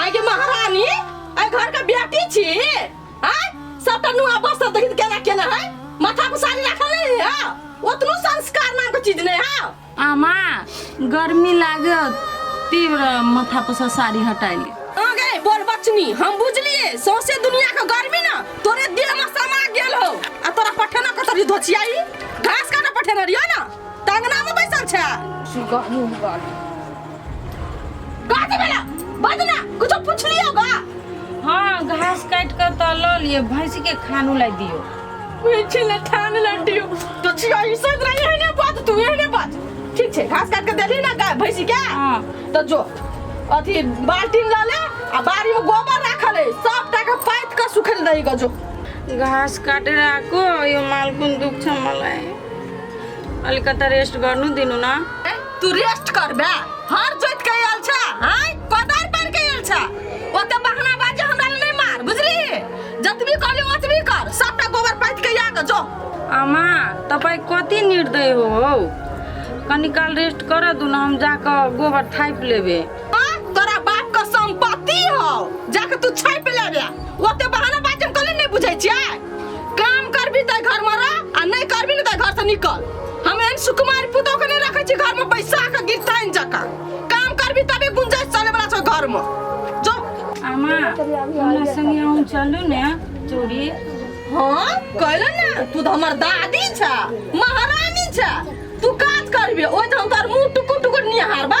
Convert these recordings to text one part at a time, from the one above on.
आइ के महारानी आइ घर के बेटी छी आइ सबटा नुआ बस सब देखित केना केना है माथा पर साड़ी राखल नहीं है ओतनो संस्कार नाम के चीज नहीं है आमा गर्मी लागत तीव्र माथा पर से साड़ी हटाइली आ गए बोल बचनी हम बुझलिए सौसे दुनिया के गर्मी ना तोरे देह में समा गेल हो आ तोरा पठेना कतरी धोचियाई घास काटे पठेना रियो ना टंगना में बैसल छै सुगा मुंह गाली गाड़ी वाला बजना कुछ पूछ लियो गा हाँ घास काट कर तो लो लिए भैंस के खानू ला दियो पीछे ले ठान लड्डियो तो छिया ई सब रही है ने बात तू है ने बात ठीक छै घास काट के देली ना गाय भैंसी के हाँ। तो जो अथी बाल्टी ला ले आ बाड़ी में गोबर राखल है सब टाका पाइत के सुखल रही गो जो घास काटे राखो यो मालकुन दुख छ मलाई अलिकता रेस्ट गर्नु दिनु न ए, तू रेस्ट कर बे हर जोत के आयल छ हाय कोदार पर के आयल छ ओते बहाना बाजे हमरा ले नहीं मार बुझली जतबी कहली ओतबी कर सबटा गोबर पाथि के या के जो आमा तपाईँ कति निर्दय हो हौ कनिकाल रेस्ट कर दु न हम जाकऽ गोबर थापि लेबे आ तोरा बाप के संपत्ति हो जाके तू छाप ले बे ओते बहाना बात हम कले नहीं बुझै छियै काम करबी त घर में रह आ नहीं करबी न त घर से निकल हम एहन सुकुमार पुतो के नहीं रखै छी घर में बैसा के गिरताइन जका काम करबी तबे गुंजाइश चले वाला छौ घर में जो आमा हमरा संगे अहूँ चलू ने चूड़ी हाँ कहलो ना तू तो हमर दादी छ महारानी छ तू काज करबे ओइ त हम तोर मुंह टुकुर टुकुर निहारबा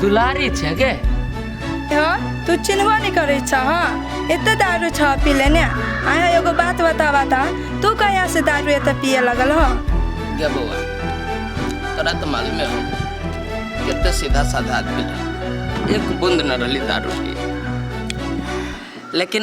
दुलारी छै गे हँ तू चिन्हबो नहि करै छ हँ एते दारू छ पी लेने आया एगो बात बताबा ता तू कहिया से दारू एते पिए लगल हो गे बौआ तोरा तऽ मालूमे हो कते सीधा साधा आदमी रहे एक बूंद न रहली दारू के लेकिन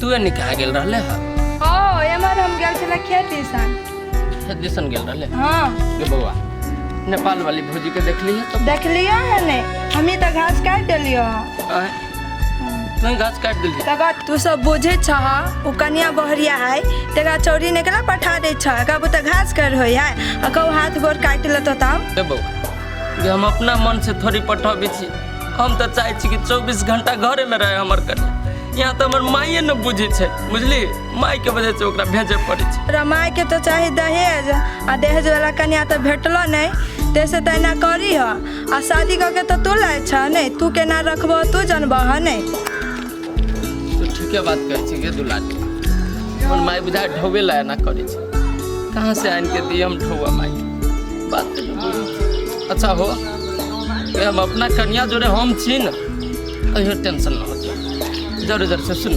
तू एने कहाँ गेल रहले हा ओ एमर हम गेल छला खेती सन खेत दिसन गेल रहले हाँ गे बौआ नेपाल वाली भौजी के देखली है तो देखलियो है ने हमी तो घास काट देलियो आय, तू घास काट दिली तका तू सब बुझे छह उ कनिया बहरिया है तेरा चौरी ने केला पठा दे छह कबू तो घास कर होई है आ कहू हाथ गोर काट लेतो तब गे बौआ गे हम अपना मन से थोड़ी पठबी छी हम तऽ चाहै छी कि चौबीस घंटा घरे में रहे हमर कन्या यहाँ तऽ हमर माइए ने बुझी छै बुझली माई के वजह से ओकरा भेजे पड़े छै तोरा माय के तो चाही दहेज आ दहेज वाला कन्या तो भेटलो नहीं तैसे तो एना करी ह आ शादी कऽ के तो तू लाय छ नहीं तू केना रखबो तू जनबह ह नहीं तू ठीके बात कहै छी गे दुलारी हमर माई बुझा ढोबे ला एना करै छै कहाँ से आनि के दिए हम ढोआ माई बात तो जो बोली। अच्छा हो ये हम अपना कन्या जोड़े हम छी न कहियो टेंशन ना होते जरूर जरूर से सुन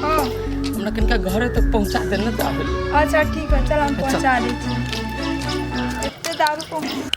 हाँ हमरा कनिका घरे तक पहुँचा देना तो आबे अच्छा ठीक है चल हम पहुँचा दै छी एते दारू पहुँच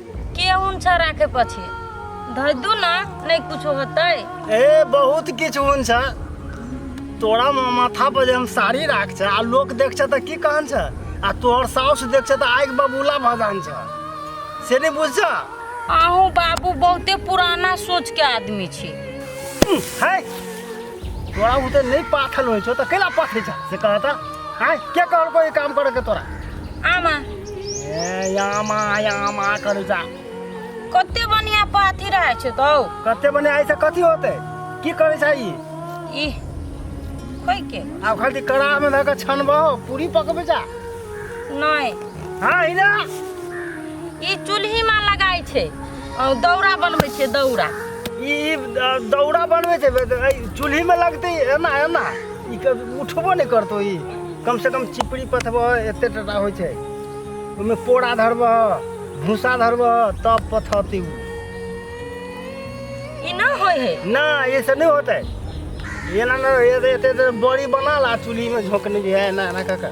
के उनछा राखे पछि धर दू ना नहीं कुछ होते ए बहुत किछ हुन छ तोरा म माथा पर जे हम साड़ी राख छ आ लोक देख छ त की कहन छ आ तोहर साउस देख छ त आइक बबूला भजान छ से नहीं बुझ छ आहू बाबू बहुते पुराना सोच के आदमी छी है तोरा उते नहीं पाथल होय छो त केला पाथे छ से कहता हां के कहल कोई काम करे के तोरा आमा ए यामा यामा करे जा कते बढ़िया पाथी रहे छ तो कते बने आइ से कथि होते की करे छ ई ई कोई के अब खाली कड़ा में धक छनबो पूरी पकबे जा नहीं हां इना ई चूल्ही में लगाई छे अ, दौरा बनबै छियै दौरा ई ई दौरा बनबै छै बे- एहि चूल्हिमे लगतै एना एना ई क- उठबो नहि करतौ ई कमसँ कम चिपड़ी पथबह एते टटा होइ छै ओहिमे पोड़ा धरबह भूसा धरबह तब पथौती ओ ई ना होइ है ना ये सब नहीं होता है ये ना ना ये तो- ये तो- ये तो बड़ी बना ला चूल्ही में झोंकने भी है ना ना काका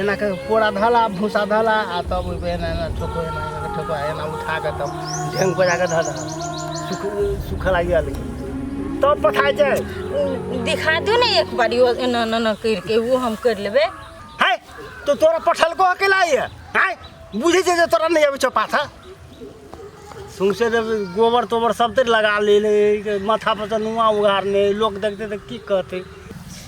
एना कऽ पोरा धला भूसा धला आ तब ओहिपर एना एना ठोको एना एना ठोको एना उठा कऽ तब ढेंग बजा कऽ धऽ दहल सुख सुख लागि गेल तब पठाइ छै दिखा दू ने एक बार यो एना एना एना करि के वो हम करि लेबै हाय तो तोरा पठलको अकेला ये हाय बुझे जे जे तोरा नहीं आवे छो पाथा सुनसे जब गोबर तोबर सब ते लगा ले ले माथा पर से नुआ उगारने लोग देखते तो की कहते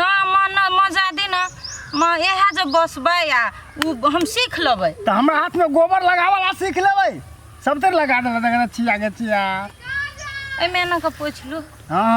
ना माँ ना माँ जाए दी ना माँ इएह जे बसबै आ ओ हम सीख लेबै तऽ हमरा हाथमे गोबर लगावला सीख लेबै सब तर लगा देला देखा छिया के छिया एहिमे एना कऽ पोछि लू हँ